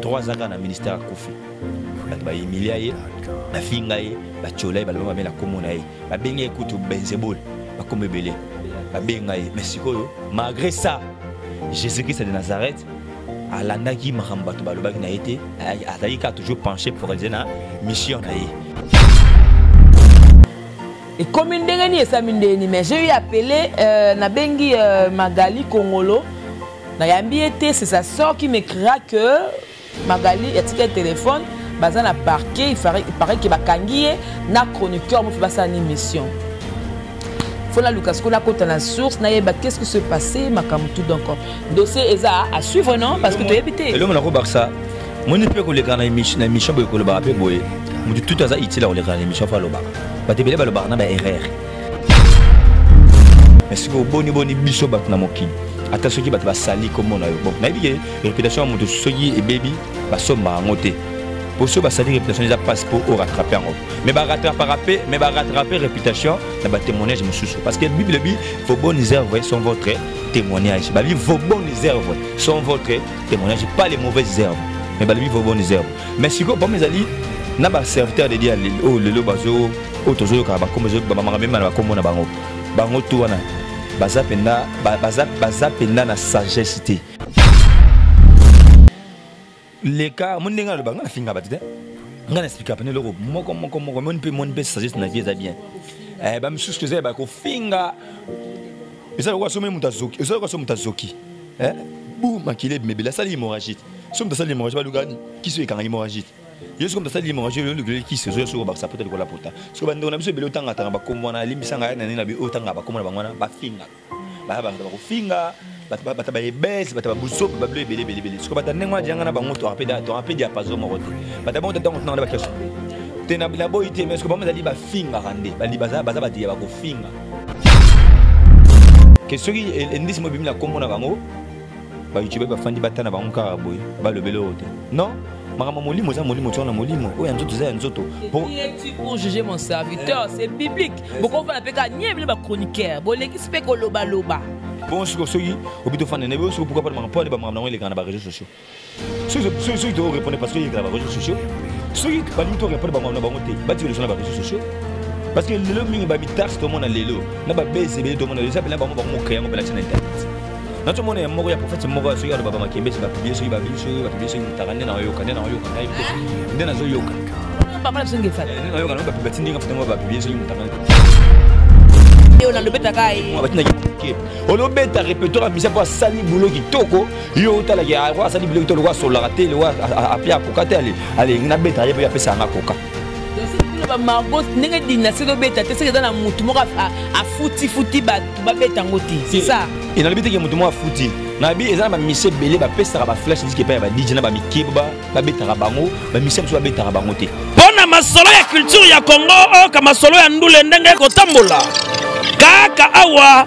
trois ans kaka na ministère akufi bato bahumilia ye bafinga ye batyola ye baloba mabe na nkombo na ye babengi ye kutu benzebole bakoma ebele babenga ye mais sikoyo malgré ça jésus christ de nazareth alandaki makambo bato balobaki na ye te azalaki kaka toujours penché pour eze na mission na ye ekomi ndenge nini esami ndeni mais j'ai eu appelé euh, nabengi euh, magali kongolo nayambi ye te c'est sa sort qui me cria que magali atika ye telefone baza na parquet pareil ke bakangi ye na chroniqueur mofe basala ni mission fo naluka sikoyo nakota na source nayeba qu'est-ce qui se passé makambo tout donc dossier eza à suivre non parce que toyebi te elongo nakobakisa moni mpe koleka na émission boye kolobaka mpe boye motu tutu aza utile ya koleka na émission fo alobaka bato ebele balobaka na baerreur mais sikoyo boni boni biso bato na mokili ata soki bato basali nkombo na yo bon nayebi ke réputation ya moto soki ebebi basomba yango te mpo soki basali réputation eza mpasi mpo orattrape yango mais barattrapaka mpe mais barattrape réputation na batémoignage mosusu parce que bible ebi vos bonnes œuvres sont votre témoignage babi vos bonnes œuvres sont votre témoignage pas les mauvaises œuvres mais balobi vos bonnes œuvres mais sikoyo problème ezali na baserviteur de dia oyo lelo bazo oyo tozoyoka bakombo bamanga mema na bakombo na bango bango tu wana baza mpenza baza mpenza na sagesse te leka omoni ndenge aloba ngai nafinga bato te ngai naexplika mpena eloko moko moko moko moni mpe moni mpe sagesse na vie eza bien eh, bamisusu toza yeba kofinga eza lokola soki moto azoki eza lokola soki moto azoki eh, bu makila ebimebele asali hémorragie soki moto asali hémorragie baluka kisi oyo ekanga hémorragie te yo soki moto asali hémorragie oyo olukeli kisi ozoya soki obakisa pota likola pota soki bandeko na biso ebele otangatanga bakombo wana alimbisanga ya nani na bi oyo otangaka bakombo na bango wana bafinga baya bato bakofinga bata baebese bata babusope babilo ebele ebele ebele soki bata ndenge wana dianga na bango toka mpe diapaso moko te bata bango tatango tunanga na bakesho te naboyi te mais soki bango ezali bafingaka nde baza bato ya bakofinga ke soki endisi mo ebimi na nkombo na bango ba youtubeur bafandi batana bango kaka boye balobela oyo te non makambo molimo eza molimo tozana molimo oyo ya nzoto eza ya nzoto pour juger mon serviteur c'est biblique bokovana mpe kaka nie bino bachroniqueur bolekisi mpe kolobaloba bon siko soki obi tofanda na ye soki pourquoi pas makambo mpo ane bamakambo nango elekana na bareseau sociaux soki to répondre parce que yekela ba réseaux sociaux soki balingi to répondre bango na bango te batika lisolo na ba réseaux sociaux parce que lelo mingi bamitarse tomona lelo na babese ebele tomona lelo eza mpena bango bango mokrea yango mpelakisa na internet nazomona ya moko ya profete moko ya soki aloba bamakembesi bapiblie soki babili soki bapiblie soki motaka nde nayoka nde nayoka nde nazoyoka nayoka bapiba ti ndenge fute ngo bapiblie soki motaka olobeta repertoire ya misa mpo asali bulo kitoko yo otalaki yango asali biloko te lokola asololaka te lokola apli akoka te alingi nabeta ye mpe apesa yanga koka ba margot ndenge dinasi ezobeta te soki eza na motu moko afutifuti bato babeta yango te c'est ça e nalobi teke motu moko afuti nayebi eza na bamisie ebele bapesaka baflash disk epai ya badj na bamikeba babetaka bango bamisie mosusu babetaka bango te mpo na masolo ya culture ya congo oyoka masolo ya ndule ndenge ekotambola kaka awa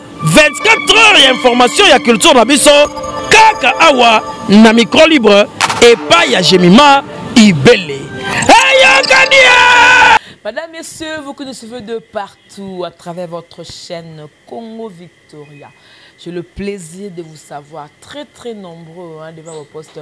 24 heures ya information ya culture na biso kaka awa na micro libre epai ya jemima ibele eyokani hey, Madame, Messieurs, vous que nous suivez de partout à travers votre chaîne Congo Victoria. J'ai le plaisir de vous savoir très très nombreux hein, devant vos postes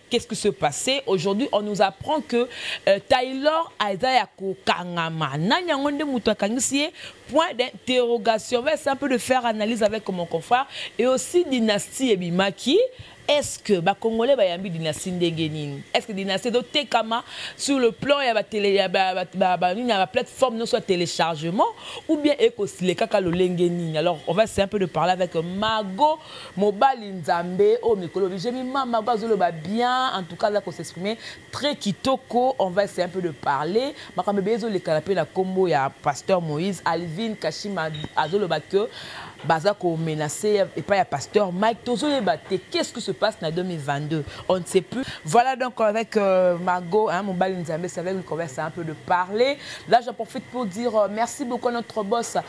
Qu'est-ce qui se passait aujourd'hui on nous apprend que euh, Taylor aza ya kokangama nani yango nde moto akangisi ye point d'interrogation va essayer un peu de faire analyse avec mon confrère et aussi dynastie ebimaki est-ce que bacongolais bayambi dynastie ndenge nini est-ce que dynastie ezotekama sur le plan ya banini ya baplateforme nyonso ya téléchargement ou bien ekosilekaka lolenge nini alors on va essayer un peu de parler avec mago Mobali nzambe oyo mikolo bi j'aime mama go azoloba bien en tout cas là ko s'exprimer très kitoko on va essayer un peu de parler makambo be ezo lekana pe na kombo ya pasteur Moïse Alvin Kashima azoloba que baza ko menacer et pas ya pasteur Mike tozo yeba te qu'est-ce qui se passe na 2022 on ne sait plus voilà donc avec euh, Mago hein mobali nzambe c'est avec lui qu'on va essayer un peu de parler là j'en profite pour dire euh, merci beaucoup à notre boss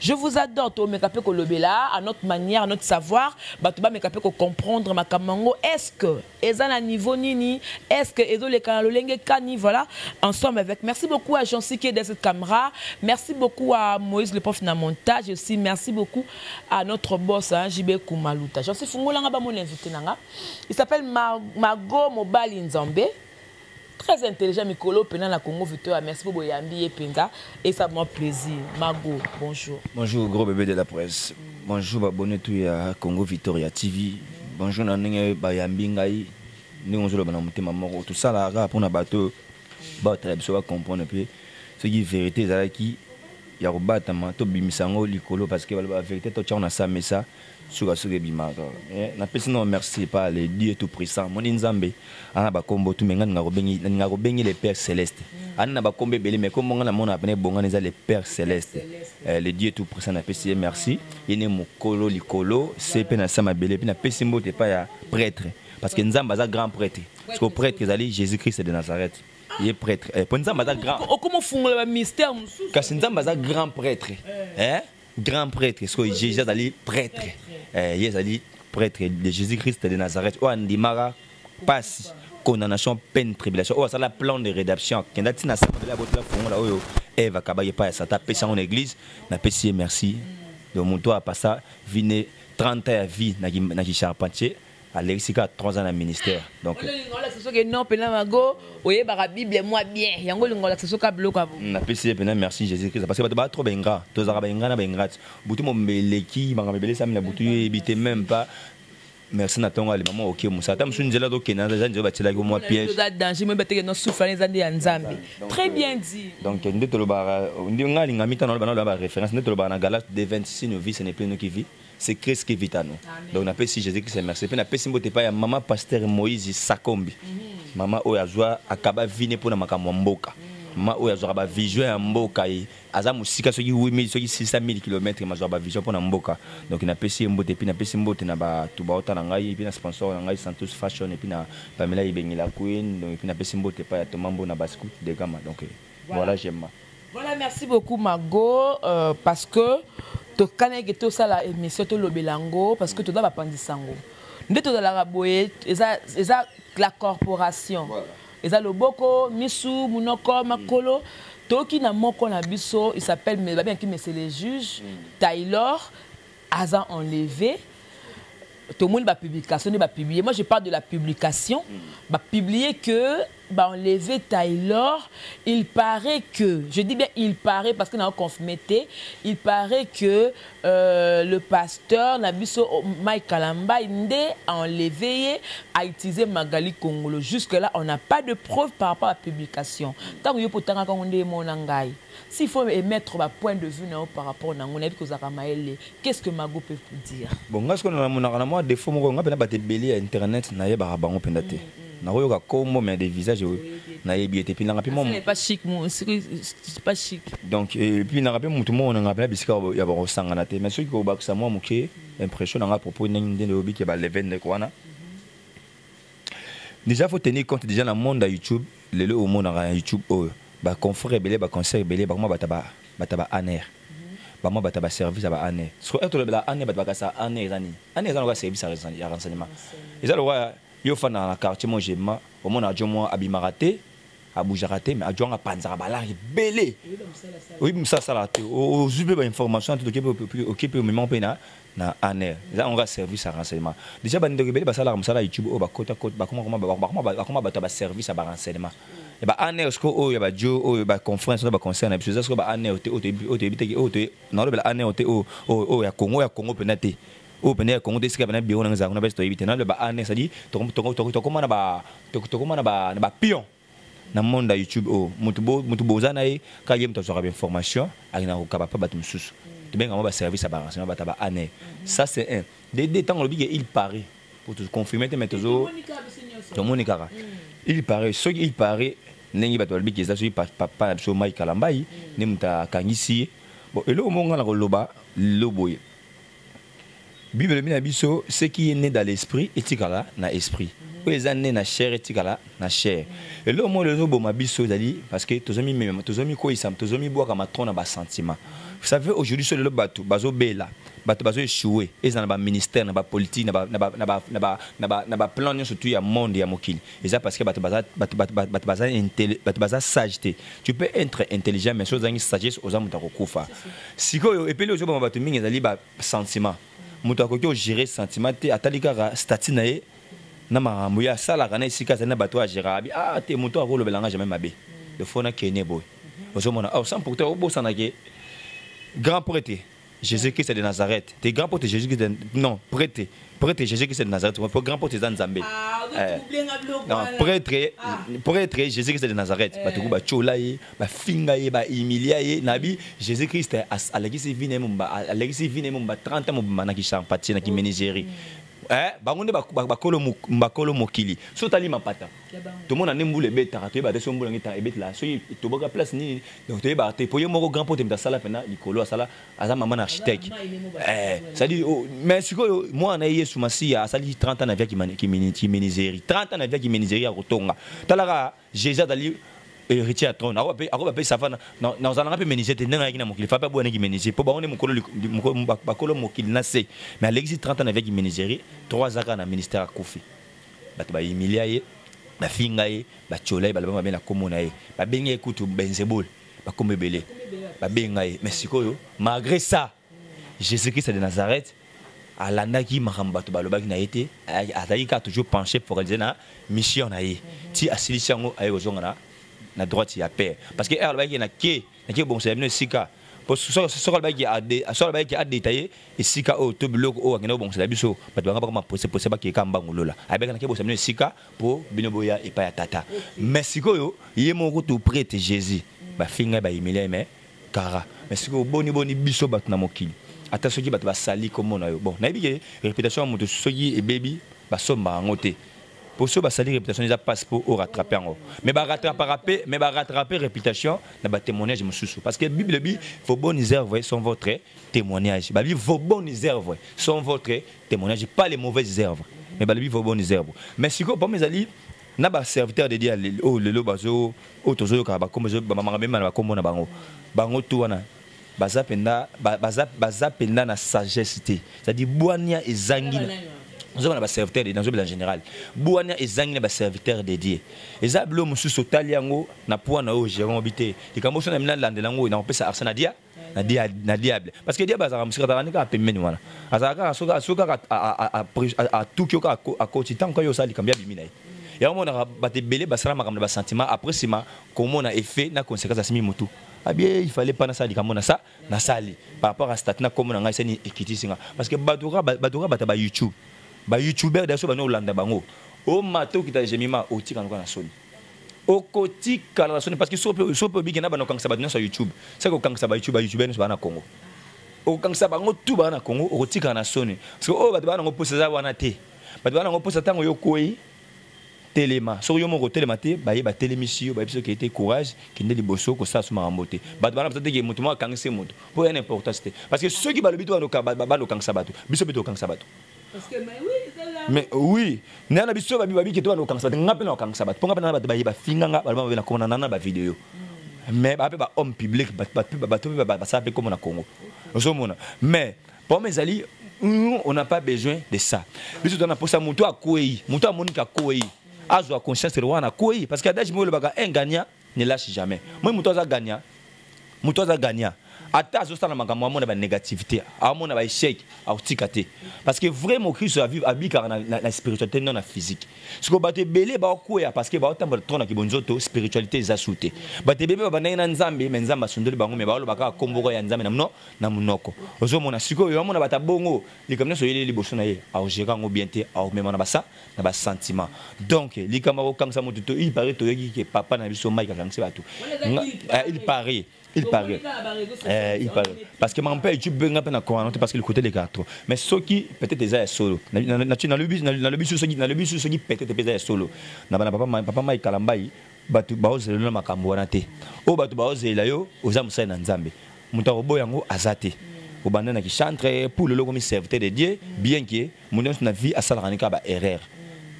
Je vous adore to meka pe ko lobela à notre manière, à notre savoir, bato ba meka pe ko comprendre makamango. Est-ce que eza na niveau nini? Est-ce que ezo le kana lolenge kani voilà ensemble avec. Merci beaucoup à Jean Siké de cette caméra. Merci beaucoup à Moïse le prof na montage aussi. Merci beaucoup à notre boss hein, JB Kumaluta. Jean Sifungola nga ba mon invité nanga. Il s'appelle Margot Mobali Nzambe. très intelligent mikolo pena na Congo Victoria merci pour boyambi ye penza et ça moi plaisir Mago bonjour bonjour gros bébé de la presse bonjour ba bonne tout ya Congo Victoria TV bonjour na ndenge bayambi ngai ndenge ozoloba na motema moko tosalaka mpona bato baotala biso bacomprendre mpe soki vérité ezalaki ya kobatama tobimisa yango likolo parce que baloba vérité totyango na samesa suka suka ebimaka eh, napesi nao merci epa le dieu tout puissant moni nzambe ana bakombo tu me nga ninga kobengi le père céleste ani na bakombo ebele me kombo nga namona pene ebongani eza le père céleste eh, le dieu tout puissant napesi ye merci ye ne mokolo likolo se mpe na se mabele mpe napesi mbote epai ya prêtre parce que nzambe aza grand prêtre parce que prêtre ezali jésus christ de nazareth ye prêtre mpo eh, nzambe aza grand okomofungola bamystère mosusu kasi nzambe aza grand prêtre eh? grand prêtre sikoyo jésus azali prêtre eh, ye ezali prêtre de jésus christ de nazareth oyo andimaka mpasi condamnation peine tribulation oyo asala plan de rédemption akenda ntina sambela abotela fongola oyo eve akabaki epai ya sata apesi yango na église napesi ye merci donc moto oyo apasa vine 30 ya vie na kicharpentier alekisi kaka 3 ans na ministère donc olinga olakisa soki non mpena mago oyebaka bible mwa bien yango olinga olakisa soki biloko ya boye napesi ye mpena merci jésus christ parce que bato baa trop baingra tozalaka baingra na baingrate butu mombe eleki makambo ebele esami na butu yo eyebi te même pas merci na ntongo alima mwa oke mosala ata mosusu nzela tokenda eza nzela batielaki mwa piègeeza danger moyeba teke no souffle eza nde ya nzambe très bien dit donc nde tolobaka nde ngai alingami ntango naloba naloba baréférence nde tolobaka na galate de 26 novice ne plenoki vie c'est Christ qui vit à nous. Donc na pesi Jésus Christ merci. Pe na pesi mbote pa ya maman pasteur Moïse Sakombi. Mhm. Maman oyo azwa akaba vine pona makambo mboka. Mhm. Maman oyo azwa ba vision ya mboka ye. Aza musika soki 8000 soki 600000 km mazwa ba vision pona mboka. Mhm. Donc na pesi mbote pe na pesi mbote na ba tuba ota na ngai pe na sponsor na ngai Santos Fashion et puis na Pamela Ibengila Queen. Donc pe na pesi mbote pa ya Tomambo na Bascout de Gama. Donc voilà j'aime voilà merci beaucoup mago euh, parce que tokanaki tosala émission tolobela yango parce que toza bapandisa yango nde tozalaka boye eza, eza la corporation voilà. eza loboko misu monoko makolo mm. toki na moko na biso il s'appelle babengaki mese le juge mm. taylor aza enlevé tomoni ba publication nde ba publier moi je parle de la publication mm. ba publier que ba enlever Taylor il paraît que je dis bien il paraît parce que na confirmé te il paraît que euh, le pasteur na biso oh, Mike Kalambay nde a enlevé ye a utilisé Magali Kongolo jusque là on n'a pas de preuve par rapport à la publication tant que yo potanga kango nde mona ngai S'il faut emettre ba points de vue na yo par rapport nango nayebi ke ozalaka mayele qu'est ce que mago peut vous dire? Bon nga sikoyo namonaka na mua defaut moko nga pena batu ebele ya internet nayebaka bango pena te nakoyoka kombo mais des visages nayebi ye te epuis nanga pe mua Pas chic mo soki pas chic. donc epuis nanga pe mutu moko nanga pena bisika ya bakosangana te mais soki kobakisa mua muke impression nanga à propos ndenge nde oyebi ke ba levende wana Déjà faut tenir compte déjà na monde ya YouTube lelo omonaka na YouTube oyo ba confrères ebele ba concert ebele bakoma bata ba bata ba aner bama bata ba service ya ba aner siko eto lobela aner bata bakasa aner eza nini aner eza lokola service ya rense- ya renseignement eza lokola yo ofanda na quartier mo gemma omonaka jo mwa abimaka te abujaka te mais ajwanga apanzaka balare ebele oyebi mosala asalaka te ozwi mpe bainformation te oke mpe omemaka mpe na na aner eza yango kaka service ya renseignement déjà bandeko ebele basalaka mosala ya youtube oyo bakota bakoma bato ya baservice ya barenseignement ya baaner siko oyo ya bajo oyo baconference na baconcert na biso eza siko baaner te oyo toyebi te oyo nalobela aner te oyo ya congo ya congo mpenza te oyo mpenza ya congo te esika pena biro nanga ezalaka kuna basi toyebi te naloba ane cestadi tokoma na bapion na monde ya youtube oyo oh, moto boza na ye ka ye moto azwaka bainformation akenda kokaba mpe bato mosusu tobenga mwa baservice ya barenseignement bata ba ane ça c'est un dede ntango olobi ke il parait po toconfirme te mais tozo tomoni kaka mm. il parait soki il parait ndenge bato balobi ke eza soki papa na biso mai kalambai nde moto akangisi ye bon eloko moko ngai na koloba loboye bible elobi na biso ce qui est né dans l'esprit etikala na esprit oyo eza ne na chair etikala na chair eloko moko ezoboma biso ezali parce que tozomimema tozomikoyisa tozomibwaka matro na basentiment vous savez aujourd'hui so lelo bato bazobela bato bazoechoue ezala na baministère na bapolitique na baplan nyonso tu ya monde ya mokili eza parce que bato baza bato bato bato baza bato baza sage te tu peux être intelligent mais soki ozangi sagesse oza moto akokufa sikoyo epeli ozobama bato mingi ezali ba sentiment moto akoki ogere sentiment te atali kaka statut na ye na makambo ye asalaka na esika azali na bato oyo agera abi a ah, te moto akolobela nga jamais mabe lefona kene boye ozomona awa sans pourtant obosanake grand prêtre Jésus Christ de Nazareth. T'es grand pote Jésus Christ de... Non, prêtre. Prêtre Jésus Christ de Nazareth. Mon grand pote Zan Zambé. Ah, euh, non, prêtre, ah. prêtre Jésus Christ de Nazareth. Bah, tout bah, chola ye, bah, finga ye, bah, humilia ye. Nabi, Jésus Christ, à l'église vine mumba, à l'église vine mumba, 30 ans mumba, na kishan pati, na kimenizeri. Eh, bangonde bakolo bakolo mokili. Sotali mapata. tomona nde mbula ebetaka toyeba te soki mbula ngi ntango ebetela soki toboka place nini donc toyebaka te mpo ye moko grand pote moto asala mpena likolo asala aza mama na architecte eh, cestadi oh, mais sikoyo mwana na ye yesu masiya asaliki 30 ans na via kimeniseri 30 ans na via kimeniseri ya kotonga talaka jésus azali héritier ya trône akoba mpe safa nazalanga mpe meniseri te ndenge ayaki na mokili fa mpe aboyanaki meniseri mpo bango nde bakolo mokili na se mais alekisi 30 ans na via kimeniseri 3 azaka na ministère akufi bato ba humilia ye bafinga ye batyola ye baloba mabe na nkombo na ye babenga ye kutu benzebole bakombo ebele babenga ye mais sikoyo malgré ça jésus christ de nazareth alandaki makambo bato balobaki na ye te azalaki kaka toujours penché focalise na mission na ye ti asilisi yango aye kozonga na, na droite ya père parce que ere alobaki na ke nake kobongisela bino esika mpo soki alobaki adeta ye esika oyo to biloko oyo akenda kobongisela biso bato banga bakoma posepose bakeka mbangu lola abeka nake bosa bino esika mpo bino boya epai ya tata mais sikoyo ye moko kutu prete jésus bafingai bayimilia mais kara mais sikoyo boni boni biso bato na mokili ata soki bato basali komona yo bon nayebi ke reputation ya moto soki ebebi basomba yango te poso oyo basali réputation eza mpasi mpo oyo rattrape yango mais barattrapaka mpe mais barattrape réputation na batémoignage mosusu parce que bible ebi vos bonnes œuvres sont votre témoignage babi vos bonnes œuvres sont votre témoignage pas les mauvaises œuvres mais balobi vos bonnes œuvres mais sikoyo problème ezali na baserviteur de dia oyo oh, lelo bazo oyo oh, tozoyokaka bakombo bamamaka mema na bakombo na bango bango tu wana baza penda baza baza penda na sagesse te c'est à dire bwania ezangi ozoba na baserviteur de nazobela général bwania ezangi na baserviteur dédié eza bilo mosusu otali yango na poids na oyo gérant obi te likambo oso na mina landela yango oyo nakopesa arsa na dia na diable parce que diable azalaka mosika azalaka nde kaka pembeni wana azalaka kaka soki soki kaka atuki yo kaka akoti ntango kaka yo osala likambo ya bimi na ye yango monaka bato ebele basala makambo na basentiment après nsima komona effet na conséquence asimi motu abie il fallait pas nasala likambo na sa nasali par rapport à statut na kombo na ngai sani ekitisi nga parce que bato kaka bato kaka bata ba youtube ba youtubeur daso bana olanda bango omata okita gemima otika noka na soni okotikala na soni parce que sope sope obiki na bana okangisa bato nyonso ya youtube seke okangisa ba youtube ba youtubeur nyonso baa na congo okangisa bango tu baa na congo okotikala na soni parce que oyo bato baa nango mposa eza wana te bato baa nango mposa ntango yo okwei telema soki yo moko otelema te baye batelemisi yo bayebisi oke te courage kende liboso kosala so makambo te bato bana baza te ke moto moko akangisi moto mpo ya na importance te parce que soki balobi to banda okangisa bato biso mpe tokangisa bato mais oui naya na biso babi babike to banda okangisa bato nga mpe na okangisa bato mpo nga mpe na bato baye bafinga nga baloba mabe na komona nana bavideo mais baa mpe bahomme public bato mpe basala mpe komona congo ozomona mais Pome ezali nous on n'a pas besoin de ça. Biso tona posa mutu akwei, mutu amoni ka kwei. Azo a conscience de wana kwei parce que adage mo le baka un gagnant ne lâche jamais. Moi mutu aza gagnant. Mutu aza gagnant. Ata azo sala makambo amona ba négativité, amona ba échec, akotika te. Parce que vrai mo Christo a vivre a bika na, na, na spiritualité non na physique. Siko bato ebele ba kwea parce que ba otambola trop na kibonzoto spiritualité eza soute. Bato ebele ba bandaki na Nzambe, mais Nzambe asundoli bango mais ba loba kaka kombo ya Nzambe na mno na munoko ozo mona sikoyo yo amona bata bongo likambo nyonso oyeli liboso na ye aogera yango bien te aomema na basa na basentiment donc likambo akokangisa moto to il paraît toyoki ke papa na biso mike akangisi bato eh, il paraît il paraît eh, il paraît parce que mampa youtube mpe nga mpe na corana te parce que le côté lekaka trop mais soki peut-être eza ya solo nalobi su soki nalobi su soki peut-être mpe eza ya solo na bana papa mike kalambai bato baozelela makambo wana te oyo bato baozelela yo oza mosali na nzambe moto akoboya yango aza te obanda na kichantre pour lelo okomi serviteur de dieu bien ke moto nyonso na vie asalaka nika ba erreur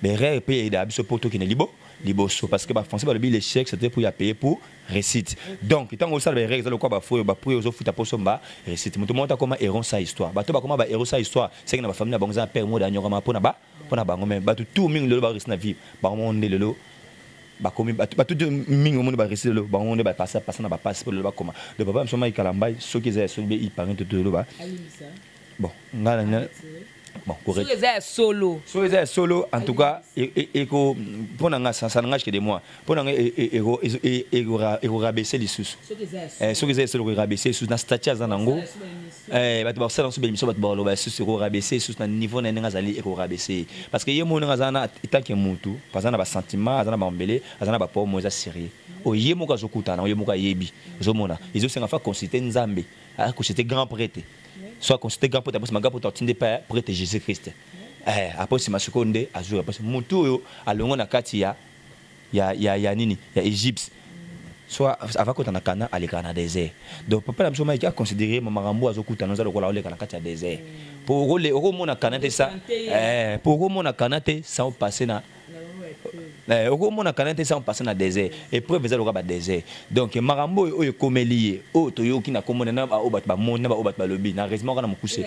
ba erreur mpe eyeda biso mpo tokende libo liboso parce que bafrançais balobi l'échec c'était pour ya paye pour récite donc ntango osala baerreur eza lokola bafoyo baprix ozofuta mpo osomba récite moto moko te akoma héron sa histoire bato bakoma bahéro sa histoire seke na bafamille na bango eza na père mode anyokama mpo na ba pona bango mais batu tout mingi lelo ba réussir na vie bango moko nde lelo bakomi batu batu mingi omoni ba réussir lelo bango nde ba passer passer na ba passe po lelo bakoma le papa biso mai kalamba soki eza ya soki be ipange to to loba bon ngala na bon correct soki eza ya solo soki eza ya solo en tout cas eko pona nga ça ça n'engage que de moi mpo na ngai ekorabese lisusu soki eza esolo korabese lisusu na stati aza nango bato bakosala nso bemission bato bakoloba lisusu ekorabese lisusu na niveau na ye ndenge azali ekorabese ye parce que ye moko ndenge aza na etanke motu aza na basentiment aza na bambele aza na bapomo eza sérieux oyo ye moko azokutana nango ye moko ayebi ozomona ezosenga fa consulte nzambe aconsulte grand prete so aconsulte grand prete apesi ma grand prete atindi epa prete jésus christ eh, apesi masiko nde azwi apesi motu oyo alongo na kati ya ya, ya, ya nini ya egypte soit avant kota na kana alekaka na désert donc papa na biso maiki aconsidere makambo azokutana oza lokola oleka na kati ya désert mpo okomona kana te sa mpo eh, okomona kana te sans passe na eh, okomona kana te sans passe na désert épreuve eza lokola badésert donc makambo oyo oyo ekomeli ye oyo toyoki na komona na baoyo bato bamoni na baoyo bato balobi na raisement kaka na mokuse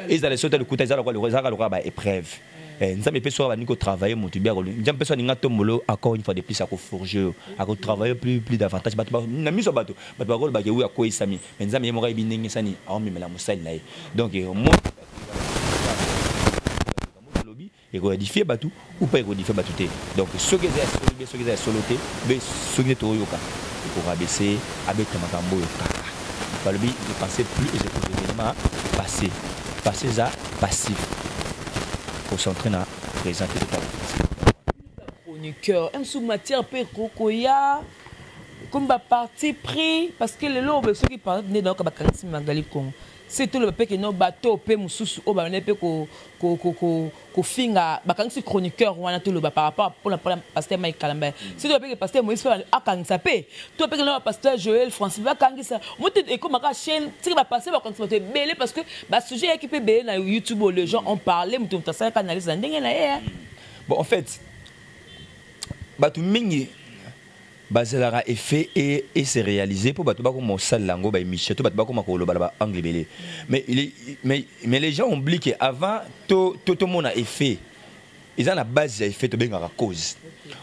ezala esoto ya lokuta ezalaka lokola baépreuve Eh, nzambe mpe soki abandi kotravaille moto bi nzambe mpe soki alingi atombolo encore une fois de plus akoforge yo akotravaille plus plus davantage bato na miso ya bato bato bakolobake oyo akweyisami me nzambe ye moko ayebi ndenge sani aomemela mosali na ye donc eh, olobi ekoedifie bato upa ekodifie bato te donc soki eza ya solo be soki eza ya solo te be soki nde toyoka ekorabese abeta makambo oyo kaka balobi je pensais plus et je pouvais passé passé eza passive concentré na présent te totala chroniqueur msu matière mpe kokoya comme baparti pris parce que lelo obe soki parti nde nayoka bakangisi magali congo se toloba mpe keno bato mpe mosusu oyo babandai mpe kofinga bakangisi chroniqueur wana toloba par rapport mpona mpona pasteur mike kalamba mm. se toloba mpe pasteur moïse mpe akangisa mpe to mpe kelaa pasteur joel francis bakangisa moto ekomaka chaîne tika bapasteur bakangisa bato ebele parce que ba sujet yaki pe bele na youtube les gens ont parlé mutu mutu asalaka analyse na ndenge na ye hein. bon en fait bato mingi bazalaka effet et, et se réaliser mpo bato bakoma kosalela yango baémission to bato bakoma kolobala baangle ebele mais, mais, mais les gens oublie que avant tomona to, to, to effet eza na base ya effet tobengaka cause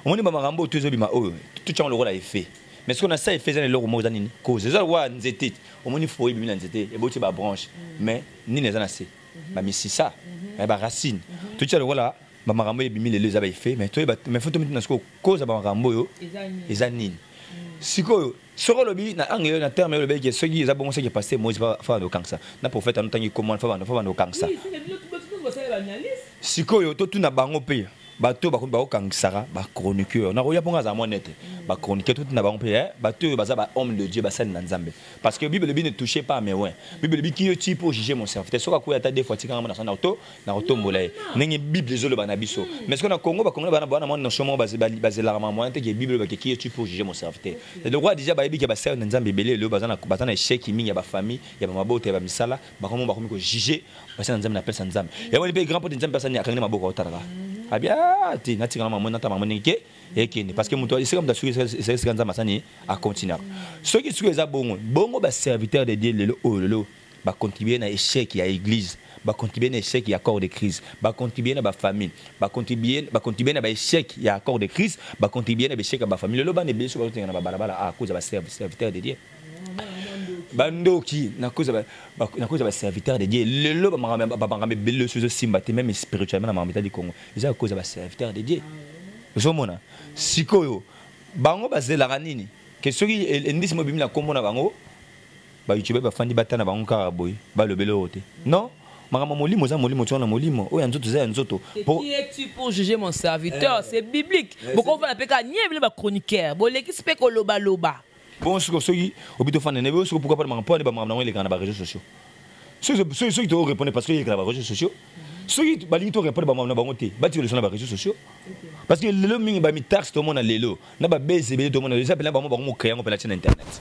omoni bamakambo oyo tozobima oyo totyango lokola effet mais soki na sa effet eza na eloko moko eza nini cause eza lokola nzete omoni foye ebimi na nzete eboti ba branche mm. mais nini eza na se mhm. ba misisa mhm. eh, ba racine mhm. totia lokola ba makambo ebimi lelo eza ba effet mais toyeba mais faut tomiti na sikoyo cause ya ba makambo oyo eza nini mm. sikoyo soki olobi na angle oyo na terme oyo olobeki soki eza bongo soki passe moise fa banda okangisa na prophète anotangi komona fa banda fa banda okangisa sikoyo totuna bango mpe bato oyo bakomi bakokangisaka bachroniqueur nakoya mpo nga azala mwa nete bachroniqueur toti na bango mpe eh, bato oyo baza bahomme de dieu basali na nzambe parce que bible elobi ne touche pas mais wen bible elobi kiyo ti mpo juge mon serviteur soki akuya ata defo atikanga mona sana to nakotombola ye ndenge bible ezoloba na biso mais soki na congo bakongo bana bana mwa notion moko bazelaka mamoyen te ke bible elobaki kiyo ti mpo juge mon serviteur lokola deja bayebi ke basali na nzambe ebele lelo baza na échec mingi ya bafamille ya bamabota ya bamisala bango mo bakomi ko juger basala nzambe na pesa nzambe yango ni pe grand pote nzambe asani akangi maboko otalaka abia ah, te natika na mamoni natama mamoni ke ekende parce que moto esika moto asuki esika esika nzambe asani acontinaka soki suki eza bongo bongo baserviteur de dieu lelo oyo lelo bacontribue na échec ya église bacontribue na échec ya corps de crise bacontribue na bafamille bacontribue na baéchec ya corps de crise bacontribue na baéchec ya bafamille lelo bana ebele soki bazotenga na babalabala akoza ah, baserviteur de dieu bandoki nakozala baserviteur de dieu lelo bamakambo ebele osi ezosimba te meme spirituellement na makambo etali congo eza kokoza baserviteur de dieu ozomona sikoyo bango bazelaka nini ke soki endisi mobimi na nkombo na bango bayoutube bafandi bata na bango kaka boye balobela oyo te non makambo molimo eza molimo tozana molimo oyo ya nzoto eza ya nzoto qui es tu pour juger mon serviteur eh. c'est biblique eh, bokovanda mpe kaka nie bino bachroniqueur bolekisi mpe kolobaloba bon siko soki obi tofanda nayebi yo siko pourquoi pas makambo mpo ane bamakambo nango elekaka na bareseau sociaux soki toorepondre parce que elekaka na bareseau sociaux soki balingi torepondre bamakambo na bango te batika leso na bareseau sociaux parce que lelo mingi bamitaxe tomona lelo na babese ebele tomona lelo eza mpena bango bango mokrea yango mpena ti na internet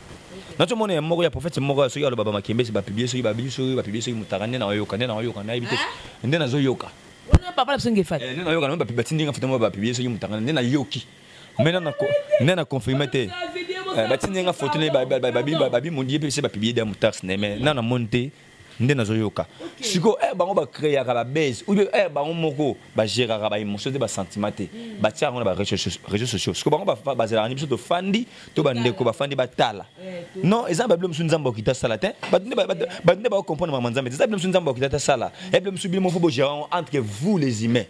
nazo mona ya moko ya prophète moko soki aloba ba makembe se ba publier soki ba biso ba publier soki mutaka nde na yoka nde na yoka na yebite nde nazo yoka wana papa na biso ngefati eh, nde na yoka na ba batindinga futa mo ba publier soki mutaka nde na yoki mais nana nana confirmer te eh, batindi nga photo ne babi babi mondi pe se ba publier da mutax ne mais nana monte nde nazoyoka sikoyo eh, bango bacreaka babase ou eh, bango moko bagéraka baémotion te basentiment te batiaka yango na baréseau sociaux sikoyo bango bazalaka ni biso tofandi to bandeko bafandi batala eh, non eza babilo mosusu nzambe okita asala te bato nde baocomprendre mama nzambe te eza bilo mosusu nzambe okita te asala ebilo mosusu bino moko bogéra yango entre vous les humains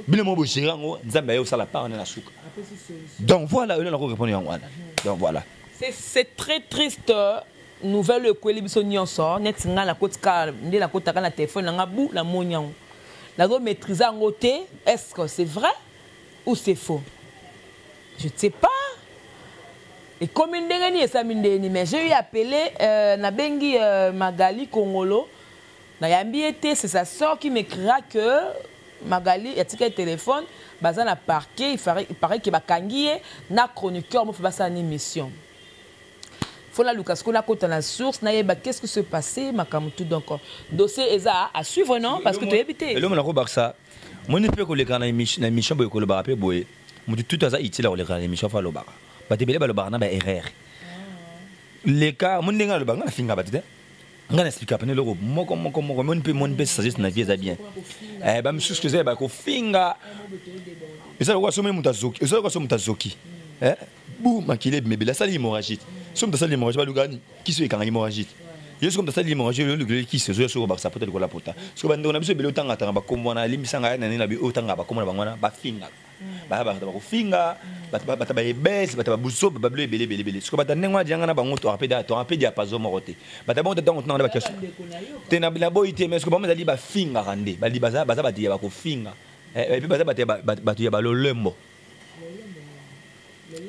bino mo bogere yango nzambe aye osala part na na suka donc voilà oyo nako répondre yango wana donc voilà c'est très triste euh, nouvelle oyo ekweli biso nyonso neti ngai nakotika nde nakotaka na telefone na ngai bu namoni yango nazo maîtrise yango te est ce que c'est vrai ou c'est faux je ne sais pas ekomi ndenge nini esami ndenge nini mais j'ai eu appelé euh, nabengi euh, magali kongolo Nayambi ye te, c'est sa sœur qui m'ecrira que Magalie atikaki telephone, baza na parquet, il parait que bakangi ye na chroniqueur mofe basala na emission. Faut na luka sikoyo nakota na source nayeba qu'est-ce qui se passait makambo tout donc dossier eza à suivre non parce que toyebi te. Elongo nakobakisa moni mpe koleka na émission boye kolobaka mpe boye motu tutu aza utile ya koleka na émission fo alobaka bato ebele balobaka na baerreur leka moni ndenge alobaka nga nafinga bato te nga na explika pene eloko moko moko moko moni mpe moni mpe sagesse na vie eza bien eh, bamisusu toza ya bakofinga eza lokola soki moto azoki eza lokola soki moto azoki eh, bu makili ebimebeli asali hémorragie soki moto asali hémorragie baluka nini kisi oyo ekanga hémorragie yo soki moto asali hémorragie oyo olukeli kisi ozoya soki obakisa pota lokola pota soki bandeko na biso ebele otangatanga bakombo wana alimbisanga ya na nini na bi otanga bakombo na bango wana bafingaka baya bato bakofinga bato bayebese bato babuso babilo ebele ebele ebele siko bato ndenge wana dianga na bango toka mpe diapaso moko te bato bango ntango tunanga na bakestion te naboyi te mais siko bango ezali bafingaka nde baza bato ya bakofinga eh, epe baza bato ya balolembo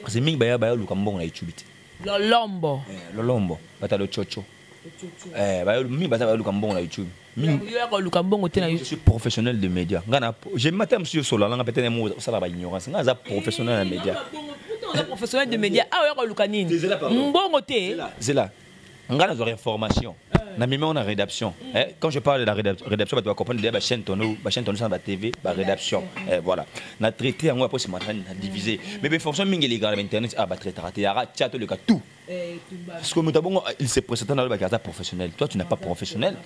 kasi mingi baya bayoluka mbongo na ecubi te lolombo eh, lolombo bato ya lococo Eh, mingi baza baluka mbongo na youtube mingioluka mbongo te na youtube suis professionnel de média ngai na je mata mosusu yosola nanga peut-être mo osala ba ignorance ngai aza professionnel na média eh, professionnel de média awa ah, yaka oluka nini mbongo te zela ngai nazwa reformation eh. na mimi on a rédaction mm. eh, quand je parle de la rédaction bato bacomprendre deya bachaîne tono bachaîne tono sana batv barédaction eh, voilà na traité yango aposi matani na divise mm. mais bainformation mingi elekaka na bainternet a ah, batraitaka te yaka tia toleka tout sikoyo moto abongo il se présenta na olobaki aza professionnel toi tu n'as pas professionnel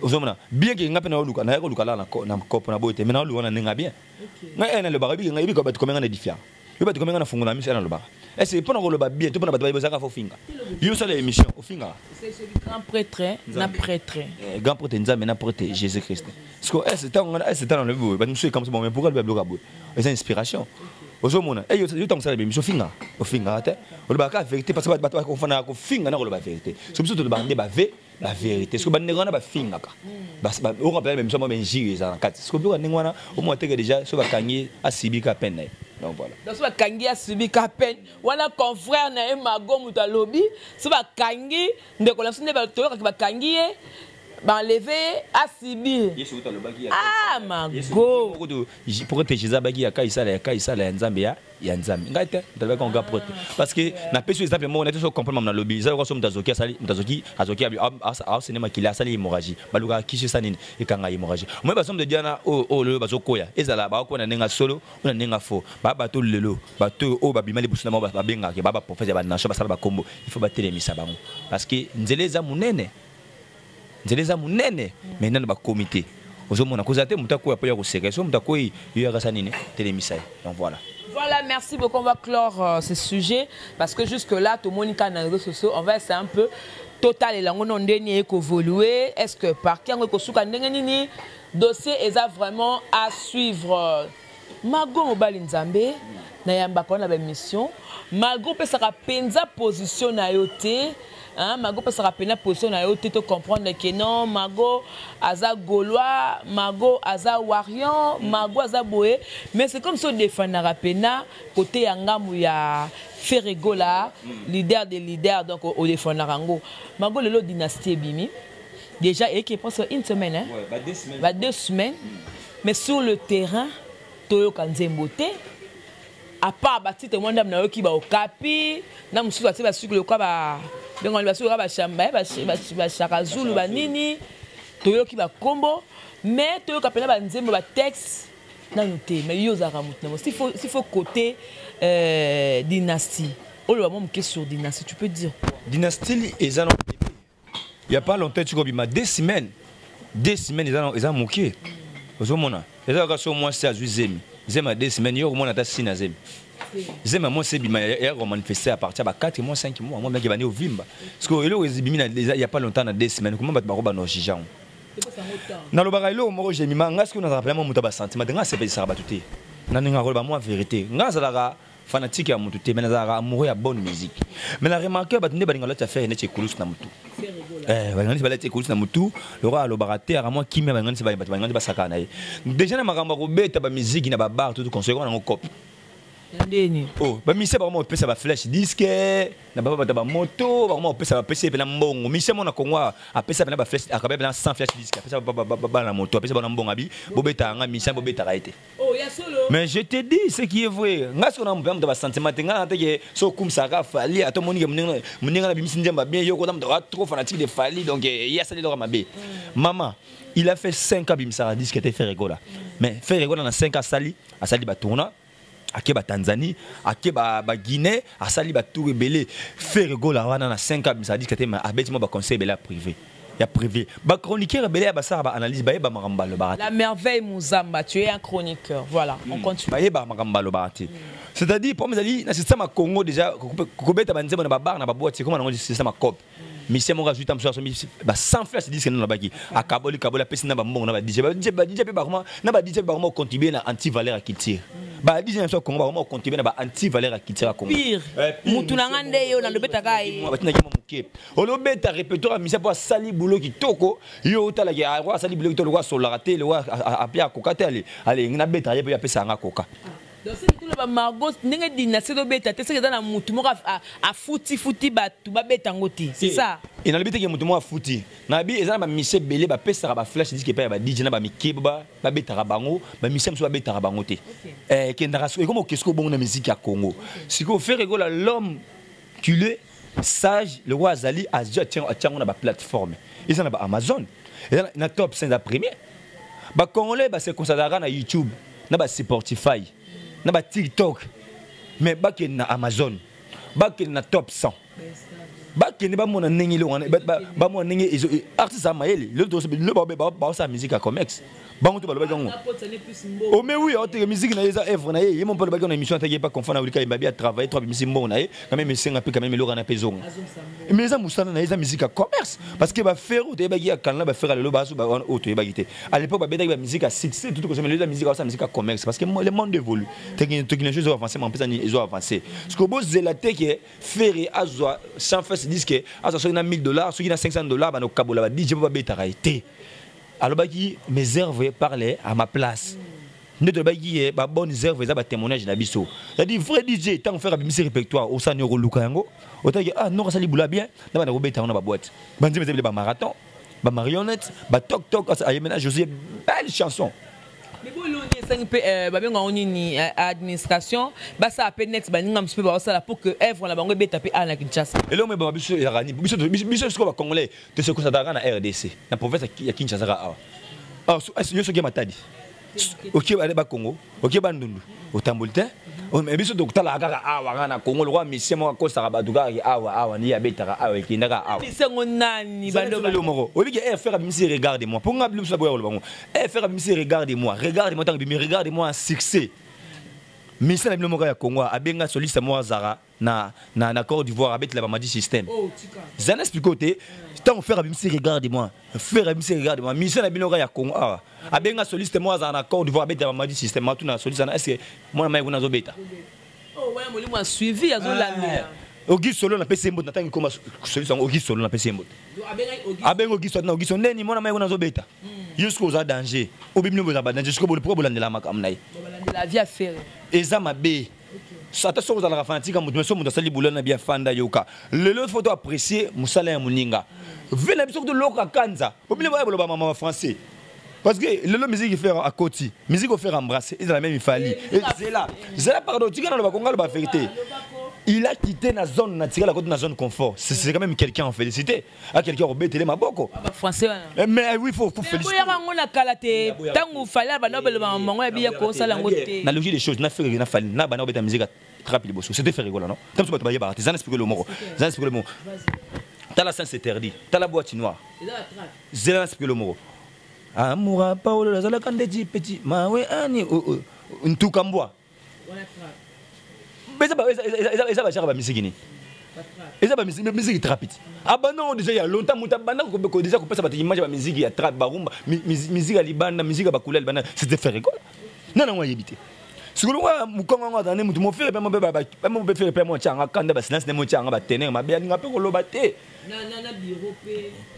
ozomona bien ke nga mpe naoluka nayaki koluka laa na kopo na boye te mai naoluka na ndenge ya bien nga e nalobaka yebi nga yebi bato komenga na edifia yo bato komenga na fungola miso e nalobaka ese mpo na koloba bien to mpo na bato bayebi ozalaka fo ofinga yo osala émission ofingaka grand prêtre na prêtre grand prêtre nzambe na prêtre jésus christ siko ese ntango ngana ese ntango nalobi boye bato mosusu ekamwisa bango mais pourquoi lobi abloka boye eza inspiration ozomona eh, yo ntango osala bemiso ofinga ofingaka te olobaka kaka verité parce que bato bakonfanaka kofinga na koloba verité so biso tolobaka nde bave baverité siko bandeko wana bafingaka okoka mpena bemiso yango benjiri eza na kati siko biloko ndenge wana omona teke déjà so bakangi asibi ka pene na ye donc voilà donc soki bakangi asubi ka peine wana confrère na ye mago moto alobi soki bakangi ndeko na biso nde toyokaki bakangi ye banleve ye asibir ah mago prote jesus abaki ya kaisala ya kaisala ya nzambe ya ya nzambe ngai te ntalobaki yango ga prote ah. parce que napesi exemple moko nayete so comprendre mama nalobi eza lokola so moto azoki asali moto azoki azoki aosene makila asali hémorragie balukaka kisi esa nini ekanga hémorragie moi basomo de diana oyo oyo lelo bazokoya ezala baokoya na ndenge solo o na ndenge faux baa bato lelo bato oyo babima liboso na bango babengaka baa baprofete ya banation basala bakombo il faut batelemisa bango parce que nzela eza monene nzela eza monene me nano bakomi te ozomona kozala te moto akoya mpo ya koseka so moto akoyi yo yakasa nini telemisa ye donc voilà Voilà, merci beaucoup. On va clore euh, ce sujet parce que jusque-là, tout le monde est dans les réseaux sociaux. On va essayer un peu total et langue non dernier évoluer. Est-ce que par qui on est dossier est vraiment à suivre? Mago mobali nzambe na yambaka wana ba mission malgré opesaka penza position na yo te hein mago opesaka pena position na yo te to comprendre que non mago aza gaulois mago aza warion mago aza boye mais c'est comme si odefendaka pena kote ya ngambo ya ferregola mm. leader de leader donc odefendaka yango mago lelo dynastie ebimi déjà eke pense une semaine hein? ouais, ba deux semaines, ba deux semaines. Mm. Mais sur le terrain, toyoka nzembo te. À part ba titre moi ndam nayoki ba okapi, na mususu ba titre suki loka ba bengo ba suki ba shamba eh, ba ba shaka zulu ba nini. Toyoki ba kombo, mais toyoka pena ba nzembo ba texte nanu te. Mais yo zaka mutu na s'il faut s'il faut côté euh, dynastie. Oloba mo moke sur dynastie, tu peux dire quoi? Dynastie eza na ya pas longtemps etika obima deux semaines deux semaines eza, eza moke ozomona eza kaka so mwasi azwi zemi zemi ya deux semaines yo okomona ata sina zemi zemi ya mwasi ebima ya komanifeste à partir ya ba 4 mois 5 mois mwa meke bandi ovimba parceke eloko ezibimi ya pas longtemps na deux semaines koma bato bakoba na ojije yango nalobaka eloko moko jemima ngai soki nazalaka pena mwa moto ya basentiment te ngai asepelesaka bato te na ndenge akoloba mwa verité ngai azalaka fanatique ya mutu te mais nazalaka amoureux ya bonne musique mais na remarque bato nde balinga lati affaire neti ekulusu na mutu eh, balinga neti balati ekulusu na mutu lokola alobaka te aka mwa kimia balinga neti bato balinga neti basaka na ye déjà na makambo ya kobeta bamiziki na babar tutu conseil koma nango cope ndeni o oh, bamisia bakoma kopesa baflash diske na baba bato bamoto bakoma kopesa bapesi ye mpena mbongo misia mona kongo apesa mpena baflash akabe mpena 100 flash diske apesa bana moto apesa bana mbongo abi bobetaka ngai misia bobetaka ye te Oh, mais je te dis ce qui est vrai nga sikoyo namupe moto basentiment te nga na te ke so okumisaka fali ata omoni ke moninga na bimisi nzemba bien yo kota moto trop fanatique de fali donc eh, ye asali eloko mabe mm. mama il a fait 5 ans bimisaka disque te faire egola mm. mais faire egola na 5 ans asali asali batourna ake batanzanie ake baguinée asali batour ebele faire egola wana na 5 ans bimisaka disque te mais abeti mwa baconseil ebele ya privé ya privé ba chroniqueur ebele ya basala ba analyse bayeba makambo balobaka la merveille muzamba tu es un chroniqueur voilà mm. on hmm. continue bayeba makambo balobaka te mm. c'est-à-dire problème ezali na système ya congo déjà kobeta banzembo na babar na baboite ekoma nango système ya cope misie moko azwi ta mosusu asomi basan flas diske nde nalobaki akaboli kaboli apesi na bambongo na badj badj mpe bakoma na badj mpe bakoma kocontribue na anti valeur ya culture badj na biso ya congo bakoma kocontribue na ba anti valeur ya culture ya congo motu na ngai nde yo nalobetaka ye batinaki mwa moke olobeta repertoire ya misia mpo asali bulo kitoko yo otalaki yango ah, asali bulo kitoko lokola asololaka te lokola ape akoka te alingi nabetaka ye mpe apesa yanga koka toloba margo ndenge dinasi tobeta te soki eza na motu moko afutifuti bato babeta yango te sa e nalobi teke motu moko afuti nabi eza na bamisie ebele bapesaka baflash disk epai ya badj na bamikeba babetaka bango bamisie mosusu babetaka bango te ekendaka eh, ekoma okesiko bongo na miziki ya congo sikoyo fere ekola l'homme cule sage lokola azali azwi atyango na baplateforme eza na baamazon eza na top 5 ya premier bacongolais base consadraka na youtube na basportify na batiktok mais bakende na amazon bakende na top 100 bakende bamona ndenge eloko wana bamona ndenge artiste ya mayele lelo baosala musique ya comex bango to balobaki yango ome wi aoteke miziki na ye eza œuvre na ye ye mo mpe alobaki na émission ataki ye mpe confond na olika ebabi atravaille to abimisi mbongo na ye quand même esenga mpe quand même eloko na mpe ezonga mais eza mosala na ye eza miziki ya commerce parce que bafere oyo toyebaki ya kanala bafere lelo bazo wana oyo toyebaki te à l'époque babetaki bamiziki ya succès tutu kosema eza miziki aosa miziki ya commerce parce que le monde évolue technologie ezo avance ma mpesa nini ezo avance siko bozela te ke fere azwa sans fesse diske azwa soki na 1000 dollars soki na 500 dollars bana kokabola ba dj mpo babetaka ye te alobaki mes œuvres parle à ma place nde tolobaki ye ba bonnes œuvres eza ba témoignage na biso c'est-à-dire vrai DJ ntango frère abimisi répertoire osani okoluka yango otaki ah noko asali bula bien na banda kobeta yango na baboite banzembe eza bile bamarathon bamarionnette batoktok aye mena josué belle chanson boloni esengi mpe euh, babenga yango nini euh, administration basala mpe net baninga mosusu mpe baosala pour que œuvre na bango ebeta mpe awa na kinshasa eloko me banga biso erani biso sikoyo bacongolais To se concentre kaka na RDC, na province ya Kinshasa kaka awa. Alors ah, yo soki ya Matadi. Okie ba ba Congo, okie ba Ndundu, otamboli te. Oh, mais biso tokotalaka kaka awa kaka na Congo lokola misie moko akosaka bato kaka awa awa nde abetaka awa ekendaka awa. Misango nani baloba lelo moko. Oyebi ke RFR abimisi regarde moi. Mpo ngai biso boya koloba ngo. RFR abimisi regarde moi. Regarde moi ntango bimi regarde moi succès. Misie na bino moko ya Congo abenga soliste moko azara na na na Côte d'Ivoire avec la Mamadi système. Oh, ça n'explique pas tant on fait à Bimsi regarde moi. Faire à Bimsi regarde moi. Mission à Binoga ya Congo. Ah, à Benga soliste moi à la Côte d'Ivoire avec la Mamadi système. Moi tout na soliste na est-ce que moi na maïko na zobeta. Oh ouais, moi moi suivi à zolamia. Ogi solo na pese mbote na tangi koma soliste yango ogi solo na pese mbote. Abenga ogi solo na ogi solo neni moi na maïko na zobeta. Yusko oza danger. Obimino boza ba danger. Yusko bo pourquoi bolandela makamna ye. Bolandela via faire. Eza mabe. ata soki ozalaka fanatique ya moto mais soki moto asali boulot na bien afanda yoka lelo fo to apprécier mosala ya moninga vie na biso kutu loka kanza obile baya boloba mama ba français parce que lelo musique faire à côté musique faire embrasser ils la même fali zela zela pardon tu kana loba konga loba vérité il a quitté la zone naturelle à côté de la zone confort c'est quand même quelqu'un en félicité akeleki akobetele maboko eh, mais oui faut kofelicitboyaka yango na kala te ntango fali abanda obelobama mongo ya biya kosala yango te na logie des choses na fereke na fali na banda obeta mizika trape liboso c'était ferregola non ntango so bato bayebaka te zana spikolo moko zana spikolo moko tala sens interdit tala boîte noire zela na spikolo moko amoura paolo azalaka ndeti petit mawe ani ntuka mbwa eza bajaka bamiziki nini eza bamiziki trapit abanda yango deja ya longtemps moto abanda deja kopesa bato image ya bamiziki ya trap barumba miziki ya libanda miziki ya bakula ya libanda c'était ferre gola nana yango ayebi te sikolo wa mukongo yango azala nde moto mofere mpe mope mpe fere mpe motya yanga kanda basilence nde motya yanga batenere mabe alinga mpe koloba te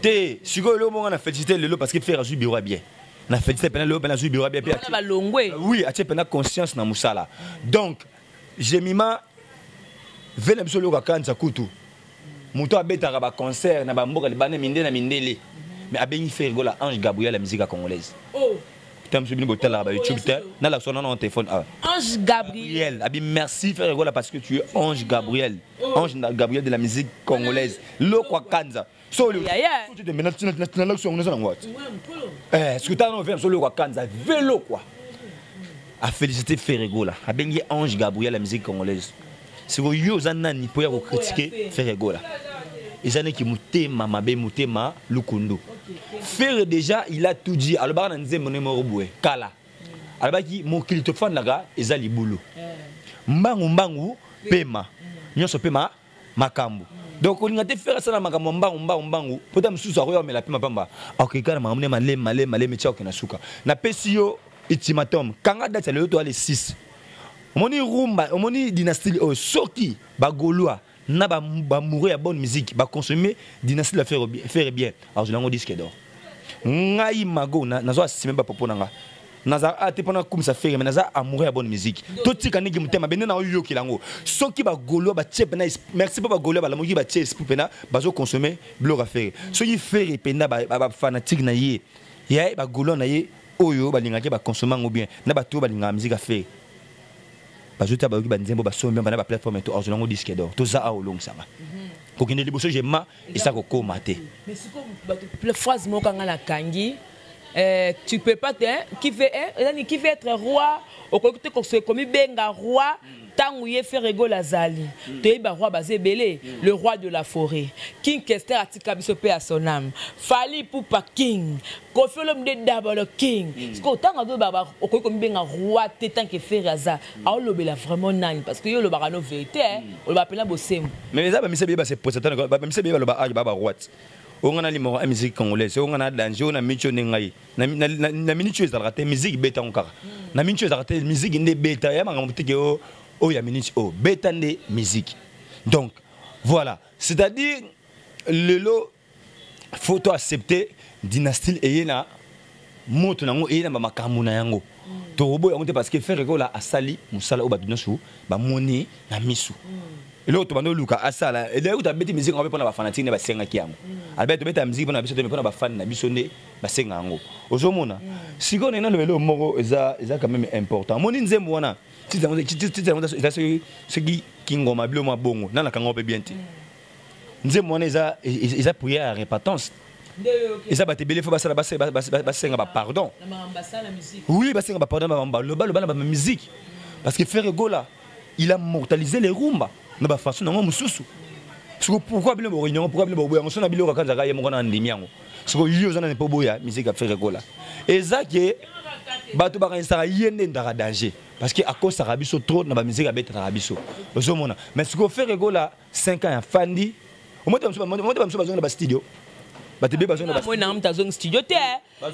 te sikoyo eloko moko na félicité lelo parce que fere azwi biro ya bien na félicité pena lelo pena azwi biro bien pe balongwe oui atie pena conscience na musala donc jemima ve na biso lelo kakanisa kutu moto abetaka baconcert na bamboka libanda minde na mindele mais abengi ferre gola ange gabriel ya musique congolaise oh. ntango biso bino botalaka ba youtube te nalakisa wana na telefone awa ah. ange gabriel abi merci ferre gola parce que tu es ange gabriel oh. ange gabriel de la musique congolaise lokwa kanza solo tete mena tina tina tina lakso ngona sana ngwati eh ce que t'as non vient solo kwa kanza velo quoi a féliciter Ferregola a bengi Ange Gabriel la musique congolaise c'est que yo za nani pour ya ko critiquer Ferregola eza niki mutema mabe mutema lukundu Ferre déjà il a tout dit alobaka na nzembo ne moko boye kala alobaki mokili tofandaka eza libulu eh. mbangu mbangu pema mm. nyonso pema makambo donc olinga te fere asala makambo ya mbangu mbangu mbangu mpo ta mosusu akoya omela mpe mapamba akokeka na makambo ne malemi malemi malemi tia okenda suka napesi yo ultimatum kanga date ya lelo toya le 6 omoni rumba omoni dynastie oyo soki bagolois na bamoureux ya bonne musique baconsomme dynastie la fere bien azwela yango disque d'or ngai mago nazwa asime bapopo na ngai naza a ah, te mpona kumisa fere me naza amoureux ya bonne musique totika ndenge motema bende na oyokela yango soki bagolois batie mpena merci mpo bagolois balamoki batie esprit mpena bazoconsomme biloko ya fere soki fere mpenda bafanatike na ye ya bagolois na ye oyo balingaki baconsomme yango bien na bato oyo balingaka miziki ya fere bazotya bayoki banzembo basombi yango na baplateforme to azwa yango diske dor toza awa olongisanga mhm. kokende liboso jema eza kokoma te mais sikoyo bato phrase moko anga nakangi eh, tu peux pas te qui veut ezani qui veut être roi okoki te komibenga roi ntango ye fere egol azali mm. toyebi baroi baza ebele mm. le roi de la forêt king kester atika biso mpe ya son ame fali pupa king kofi olomide dabolo king mm. sikoyo ntango azoyeba okoki komibenga roi te ntanke fere aza mm. aolobela vraiment nani parce que yo olobaka no verité eh. mm. olobaka mpena bosembo mais eza bamisa beye baseposatbamisa beye baloba age baba roite oyo ngai nalimaka ya musique congolaise oyo ngai na danger oyo na miniti oyo nde ngai na miniti oyo ezalaka te musique ebetango kaka mm. na miniti oyo ezalaka te musique nde ebeta ya makambo teke oh, oyo ya miniti oyo oh, beta nde musique donc voilà c'est-à-dire lelo faut to accepter dynastie eye na moto nango eye na bamakambo na yango mm. tokoboya yango te parce que ferre kola asali mosala oyo bato nyonso bamoni na miso mm. eloko tobanda oluka asala elei kuta abeti miziki yango mpe mpona bafanatike nde basengaki yango mm. alobaki tobeta miziki mpona biso te mpona bafani na biso nde basenga yango ozomona sikoyo ndenge naloba eloko moko eza quand même important omoni nzembo wana titre yango eza soki kingoma bilo mwa bongo nanakango mpe bien te nzembo wana eza eza prière ya repentance eza bato ebele fo basala basenga bapardon oui basenga bapardon baloba loba na bamusike parce que ferre gola il a mortalisé les rumba na bafaçon nango mosusu siko pourkoi bino bokoki yango pourkoi bino bokoboya yango so na biloko akanzaka ye moko na andimi yango siko yo oza nani mpo boya misiki ya ferre gola eza ke bato bakanisaka ye nde ndaka danger parce que akosaka biso trop na bamiziki abetanaka biso ozomona mais sikoyo ferre gola 5 ans ya fandi omote bamusu omote bamusu bazonga ba studio bato ebele bazonga moi nanga moto azongi studio te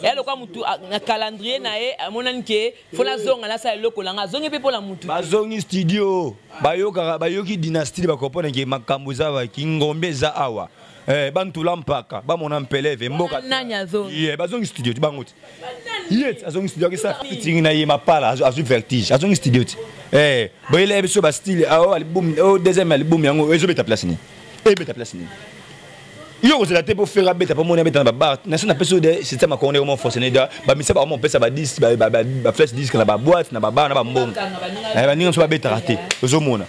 ya lokola motu na calendrier na ye amonani ke fo nazonga nasala eloko nanga azongi mpe mpo na motu bazongi studio bayokaka bayoki dynastie bakoponake makambo eza wa kingombe eza awa eh bantula mpaka bamona mpeleve mboka nani azongi ye bazongi studio ti bango ti ye ti azongi studio akisa fitingi na ye mapala azwi vertige azongi studio ti eh boyela ye biso bastile ao oh, album o oh, deuxième album yango ezobeta place nini ebeta place nini yo okozela te mpo fere abeta mpo moni abeta na babar nasi napesi yo de système akongo ndenge mofonctionne da bamisa bango mopesa badis baflash disk na baboite na babar na bambongo eh, baninga mosusu babetaka te ozomona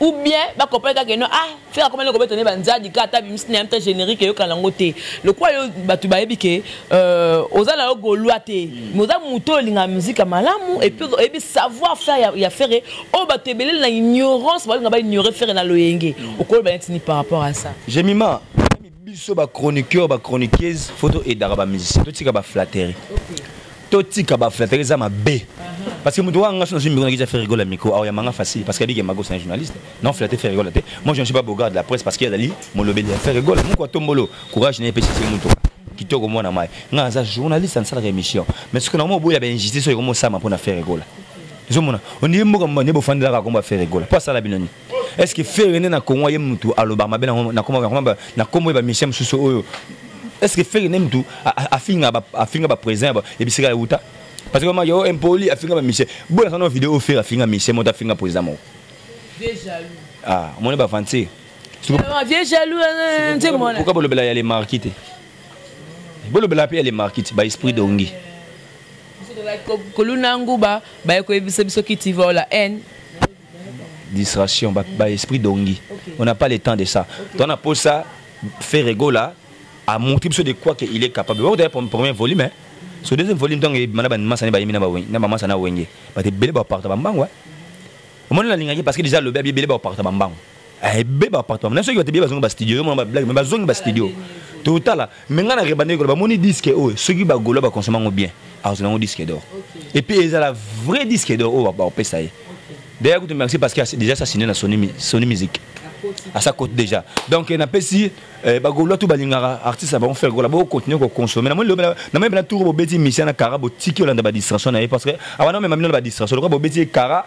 ou bien bakompani kaka eno ah fere akomani kobeta nde banzadi kaka ata bimisi na ya mpe générique eyokana yango te lokola yo bato bayebi ke euh, oza na yo golwa te mais mm. oza moto oyo olingaka miziki ya malamu epuis oyebi savoir faire ya fere oyo bato ebeleli na ignorance balinga baignore fere na loyenge mm. okoloba neti ni par rapport à ça jemima biso ba chroniqueur ba chroniqueuse faut to edaka ba musicien totika ba flatterie totika ba flatterie eza mabe uh-huh. parce que moto wa nga sono zimbi kona kiza ferigola micro awa ya manga facile parce que abike mago c'est un journaliste non flatter ferigola te moi je ne suis pas bogard de la presse parce que azali molobeli ya ferigola moko atombolo courage na epesi se moto kitoko mwana mai nga aza journaliste asalaka émission mais soki nango oboya ba injustice oyo komosama mpo na ferigola ezomona ondie mboka mbandi bofandelaka kombo ya ferigola mpo asala bino nini est ce que ferre nde na congo ye mutu alobaka mabe na kombo ye bamisie mosusu oyo est ce que ferre nde mutu afinga baprésident ya bisika ya uta parce que yo impoli afinga bamisie bona sana video oyo ferre afinga misie moto afinga président moko ah, omoni bavantie pourquoi bolobela ya le marki te bolobela mpe ya le marki te baesprit dongi koluna nguba baye koyebisa biso kiti vola haine distraction ba, ba esprit dongi okay. on n'a pas le temps de ça okay. tona posa faire egola a montré biso de quoi que il est capable ba kotala premier volume hein. so deuxième volume ntango ebima na bamasa ne bayemi na bawenge na bamasa na wenge bato ebele baparta bambango omoni nalingaki parce que déjà alobi abi ebele baparta bambango ebe bapatwama na soki bato ebe bazongi bastudio yo mona bablage me bazongi bastudio totala me ngai na rebande ekola bamoni diske oyo soki bagolo bakonsoma yango bien akozala yango diske dor epuis ezala vrai diske dor oyo bakopesa ye deya kutu merci parce que déjà sa sine na soni musique asa cote déjà donc eh, napesi eh, bagolois to balingaka artiste na bango faire kola bocontinue koconsomme namoni pena tour bobeti misia na kara botiki olanda badistraction na ye parce que awana omema mino na badistraction lokola bobeti ye kara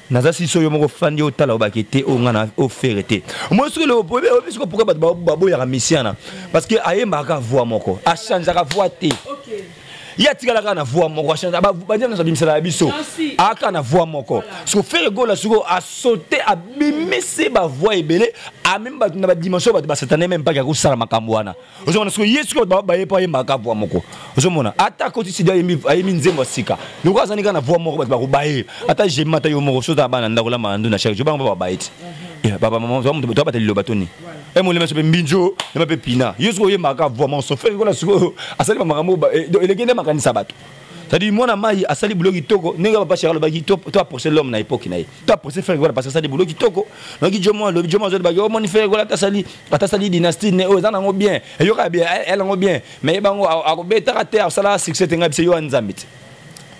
naza siso yo moko fandi otala obake te oyo ngai na ofere te omoni soki oyebi soki pourkui bato baboyaka misiana parce que ayembaka kaka voi moko achangeaka voi te ye atikala kaka na voi moko achange badia nyonso abimisela ya biso aka na voi moko soki fere gola soko asote abimisi bavoi ebele amemi bato na badimension bato basatane meme mpaki akosala makambo wana ozomona sikoyo ye sikoyo bato baye mpo ayemba kaka voi moko ozomona ata koti sidi ayembi nzembo ya sika lokola azani kaka na voi moko bato bakobaye ata jemi ata yo moko sozala bana ndako lamba na nduna chaque jour bango babaye te papa mama toa moto toabata liloba toni e molema so mpe mbinzo ema mpe pina yo sikoyo oyembaka kaka voi moko sofere kola sikoyo asali bamakambo eleki nde makanisa bato c'est-à-dire mwana mai asali boulot kitoko ndenge papa chara alobaki to approche l'homme na époque na ye to approche frère gola parce asali boulot kitoko noki jomo alobi jomo azodi baki omoni frère gola atasali atasali dynastie ne oyo eza nango bien eyokaka bien elle yango bien mais ye bango akobetaka te asalaka succès te ngai biso yo ya nzambe te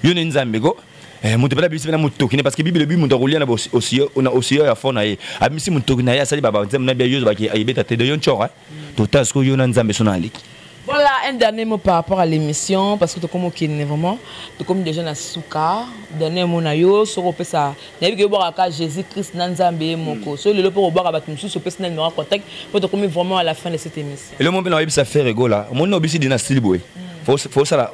yo ne nzambe ko Eh, moto mpela abimisi mpena motoki ne parceke bibele bi moto akolia na osiyo ya fo na ye abimisi motoki na ye asali babanzembo na bia yozo baki ayebeta te de yo ncora eh. totala sikoyo yo na nzambe so na aleki Voilà un dernier mot par rapport à l'émission parce que tokomi okende vraiment tokomi déjà na suka dernier mot na yo soki opesa nayebi ke obwaka kaka jésus christ na nzambe ye moko soki lelo mpo kobwaka bato mosusu opesi na numero contact mpo tokomi vraiment à la fin de cette émission elo mo mpe na oyebisa fere egola omoni na obisi dina stili boye fosala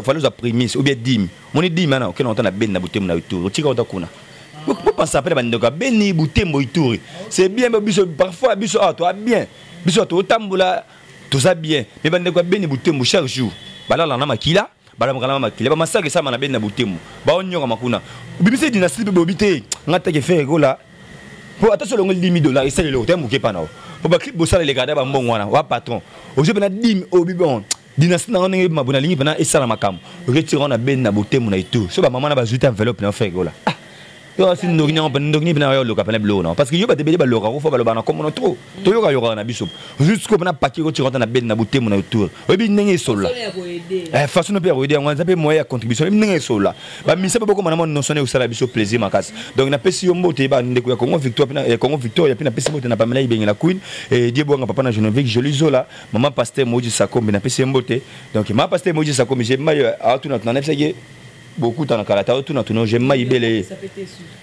faloza primise obia dime moni dime ana okenda kota na beni na botemu na yo tour otika kota kuna bopasa mpe na bandeko ya beni butembo ituri c'est bien biso parfois biso awa toa bien biso awa totambola toza bien me bandeko ya beni butembo chaque jour balala na makila balamuka na makila bamasaka esama na beni na butembo baonyokama kuna obimisa dynastie mpe bobi te nga take fere kola mpo ata solongoli dimi dollar esali eloko te moke mpa na yo mpo baclip bosala elekada bambongo wana wa patron ozo mpe na dime obi bon dynastie na ndenge mabo nalingi pena esala makambo retire wana ben na botemu na itu so ba mama na bazui ta enveloppe na fake ola ah yo asi ndoki nyango pena ndoki pena yo loka pena biloko na parce que yo bate bele baloka ko fa baloba na komona trop to yoka yoka na biso juste ko pena paquet ko tire na ben na botemu na itu oyebi ndenge esola eh façon no pe ya koyede yango eza pe moyen ya contribution oyebi ndenge esola ba misa pe bokoma na mona notion eyo sala biso plaisir makasi donc na pesi yo mbote ba ndeko ya Congo victoire pena ya Congo victoire ya pena pesi mbote na Pamela ibengela queen et Dieu bonga papa na Geneviève Jolie Zola Maman Pasteur Moïse Sakombi, na pesi mbote. Donc, Maman Pasteur Moïse Sakombi, j'ai maillé à tout notre nanepsaki beaucoup dans la kalata, tout notre nom, j'ai maillé belé.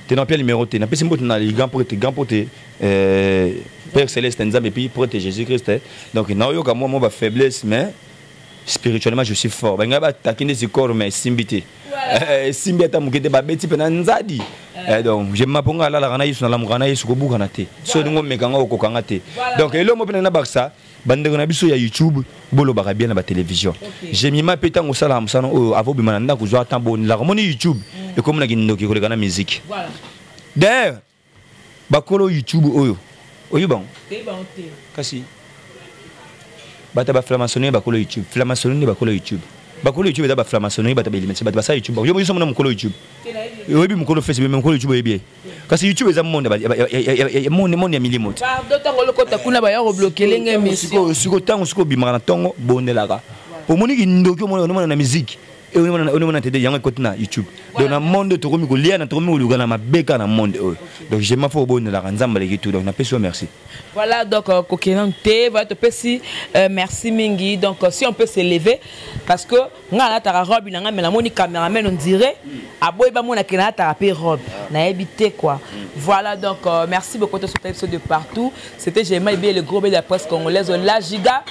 T'es dans quel numéro t'es? Na pesi mbote na grand prêtre, grand prêtre, euh, Père Céleste, Nzambe, puis prêtre Jésus-Christ. Hein. Donc, na yo ka moi, moi, ba faiblesse, mais spirituellement, je suis fort. Ben, nga ba takine si corps, mais simbité. Eh, esimbi ata moke te babeti mpe na nzadi eh, donc je maponga alalaka na yesu nalamukaka na yesu kobukana te so olingi omeka nga okoka nga te donc elongo mpe na bakisa bandeko na biso ya youtube bolobaka bien na batelevizio jemima mpe ntango osalaka mosana oyo ava obima na ndako zwa ntan bonelaka omoni youtube mm. ekomi na kindoki koleka na miziki d'ailleurs bakolo youtube oyo oyebi bango kasi bato ya baflamasonne bakolo youtube flamasonne nde bakolo youtube bakolo youtube eza baflamasonne bato baelimisi bato basala youtube yo moyoso mona mokolo youtube oyebi mokolo facebook me mokolo youtube oyebi ye kasi youtube eza monde ya milimo sikoyo ntango soki obimaka na ntongo bondelaka omoni kindoki omona na miziki onomona te yango ekoti na youtube donc na monde tokomi koliana tokomi koluka na mabeka na monde oyo donc jema fo obondelaka nzambe aleki tout donc napesi yo merci voilà donc euh, kokenan te voilà topesi euh, merci mingi donc euh, si on peut s'élever parce que nga alataka robe na nga me namoni cameraman on dirait aboyi bamona ke nalataka mpe robe nayebi te quoi voilà donc merci beaucoup tosota biso de partout c'était jema ebie le gros be de la presse congolaise la giga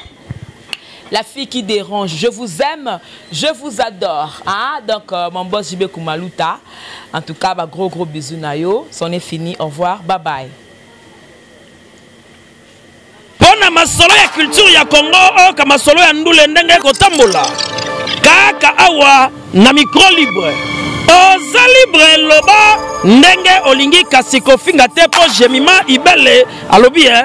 la fille qui dérange. Je vous aime, je vous adore. Hein? Donc, euh, mon boss JB Koumalouta, en tout cas, bah, gros gros bisous Nayo. C'en est fini, au revoir, bye bye. mpona masolo ya culture ya congo oyoka masolo ya ndule ndenge ekotambola kaka awa na micro libre oza libre loba ndenge olingi kasi kofinga te mpo jemima ibele alobi e eh?